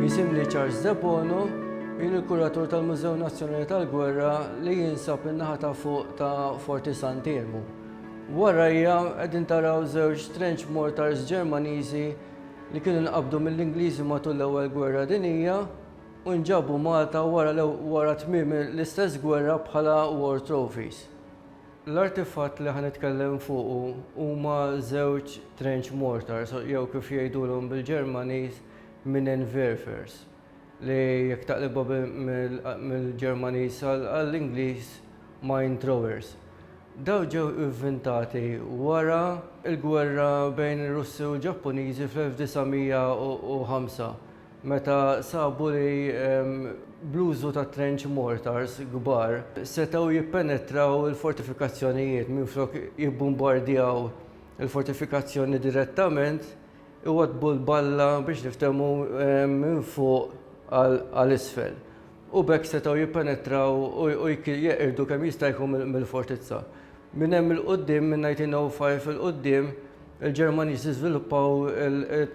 Jisimni Charles Debono, jien il-kuratur tal-Mużew Nazzjonali tal-Gwerra li jinsab in-naħa ta' fuq ta' Forti Sant'Elmu. Warajja qegħdin taraw żewġ trench mortars Ġermaniżi li kienu nqabdu mill-Ingliżi matul l-Ewwel Gwerra Dinija u nġabu Malta wara tmiem l-istess gwerra bħala war trophies. L-artifatt li ħa nitkellem fuqu huma żewġ trench mortars jew kif jgħidulhom bil-Ġermaniż Minenwerfers li jekk taqlibha mill-Ġermaniż għall-Ingliż mine throwers. Dawn ġew ivvintati wara l-gwerra bejn ir-Russi u l-Ġappuniżi fl-1905. Meta sabu li bl-użu ta' trench mortars kbar setgħu jippenetraw il-fortifikazzjonijiet minflok jibbumbardjaw il-fortifikazzjoni direttament, iwaddbu l-balla biex niftehmu minn fuq għal isfel. u b'hekk setgħu jippenetraw u jeqirdu kemm jista' jkun mill-fortizza. Minn hemm 'il quddiem, minn 1905 'il quddiem, il-Ġermaniżi żviluppaw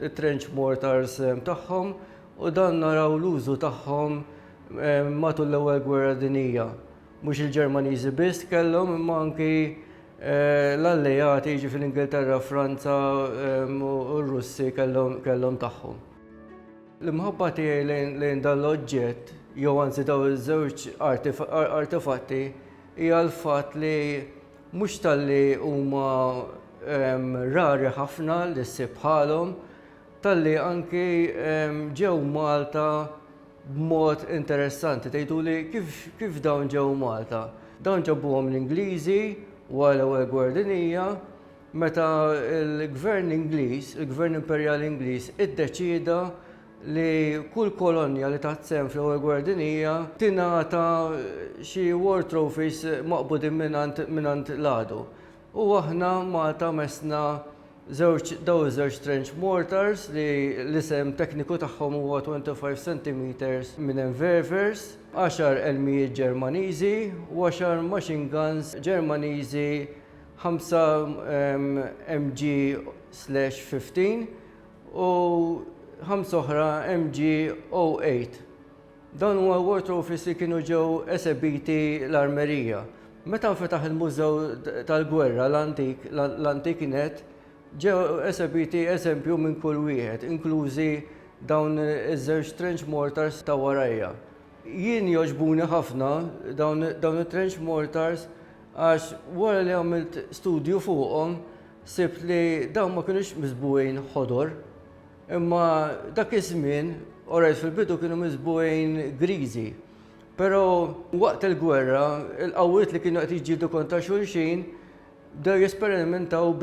it-trench mortars tagħhom u dan naraw l-użu tagħhom matul l-Ewwel Gwerra Dinjija. Mhux il-Ġermaniżi biss kellhom imma anki l-Alleati, jiġifieri l-Ingilterra, Franza u r-Russi kellhom tagħhom. L-imħabba tiegħi lejn dan l-oġġett, jew anzi dawn iż-żewġ artefatti, hija l-fatt li mhux talli huma ehm, rari ħafna li ssib bħalhom, talli anki ehm, ġew Malta b'mod interessanti. Tgħiduli kif, kif dawn ġew Malta? Dawn ġabuhom l-Ingliżi wara l-ewwel gwardinija, meta l-Gvern Ingliż, il-Gvern Imperjali Ingliż, iddeċieda li kull kolonja li taħt sehem fl-Ewwel Gwerra Dinjija tingħata xi war trophies maqbudin mingħand l-għadu. U aħna Malta messna żewġ dawn iż-żewġ trench mortars li l-isem tekniku tagħhom huwa 25 centimetres minn Enververs, għaxar elmijiet Ġermaniżi u għaxar machine guns Ġermaniżi 5 mg slash 15 u 5 oħra mg 08. Dan huwa water office li kienu ġew esebiti l-armerija. Meta nfetaħ il-Mużew tal-Gwerra l-Antik, l-Antik Net, ġew esebiti eżempju minn kull wieħed, inklużi dawn iż-żewġ trench mortars ta' warajja. Jien jogħġbuni ħafna dawn it-trench mortars għax wara li għamilt studju fuqhom sibt li dawn ma kinux miżbugħin ħodor imma dak iż-żmien, orajt fil-bidu kienu miżbugħin griżi pero waqt il-gwerra il-qawwiet li kienu qed jiġġieldu kontra xulxin bdew jesperimentaw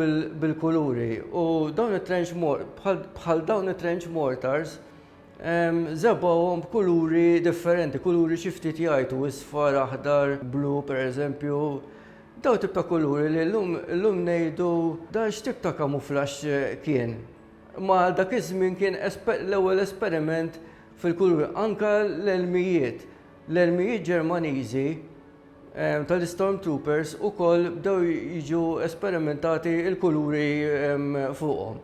bil-kuluri u dawn it-trench bħal dawn it-trench mortars Żebgħuhom b'kuluri differenti, kuluri xi ftit jgħajtu, isfar, aħdar, blu pereżempju. Daw tip ta' kuluri li llum illum ngħidu dan x'tip ta' kamuflaxx kien. Imma għal dak iż-żmien kien l-ewwel esperiment fil-kuluri. Anke l-elmijiet, l-elmijiet Ġermaniżi tal-Stormtroopers ukoll bdew jiġu esperimentati l-kuluri fuqhom.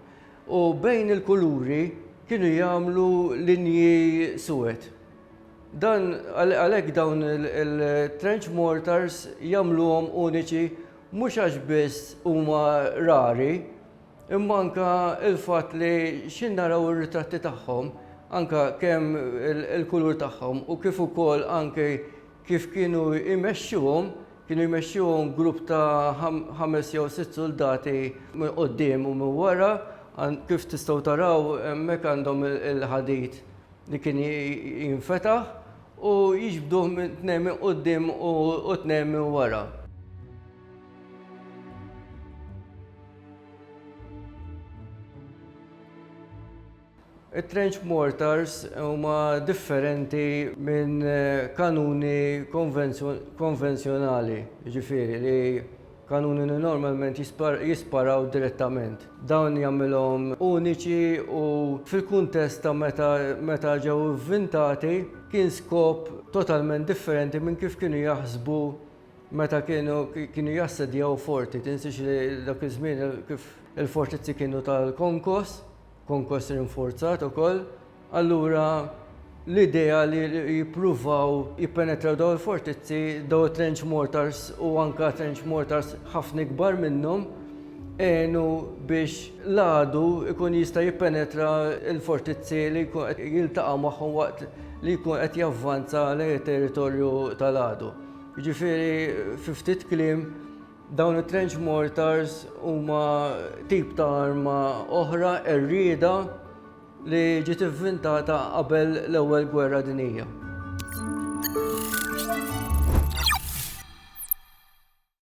U bejn il-kuluri kienu jagħmlu linji suwed. Dan għalhekk dawn il-trench mortars jagħmluhom uniċi mhux għax biss huma rari, imma anke l-fatt li xi naraw ir-ritratti tagħhom anke kemm il-kulur tagħhom u kif ukoll anke Kif kienu jmexxuhom, kienu jmexxuhom grupp ta' ħames jew sitt suldati minn quddiem u minn wara, kif tistgħu taraw hemmhekk għandhom il-ħadid li kien jinfetaħ u jiġbduh tnejn minn quddiem u tnejn minn wara. It-trench mortars huma differenti minn kanuni konvenzjonali, jiġifieri li kanuni li normalment jisparaw direttament. Dawn jagħmilhom uniċi u fil-kuntest ta' meta ġew ivvintati kien skop totalment differenti minn kif kienu jaħsbu meta kienu jassedjaw forti. Tinsiex li dak iż-żmien kif il-fortizzi kienu tal-konkos. konkos rinforzat ukoll, allura l-idea li jippruvaw jippenetraw dawn il-fortizzi, dawn it-trench mortars u anke trench mortars ħafna ikbar minnhom, għenu biex l-għadu jkun jista' jippenetra l-fortizzi li jkun qed jiltaqa' magħhom waqt li jkun qed javvanza lejn it-territorju tal-għadu. Jiġifieri fi ftit kliem, Dawn it-trench mortars huma tip ta' arma oħra errieda li ġiet ivvintata qabel l-Ewwel Gwerra Dinjija.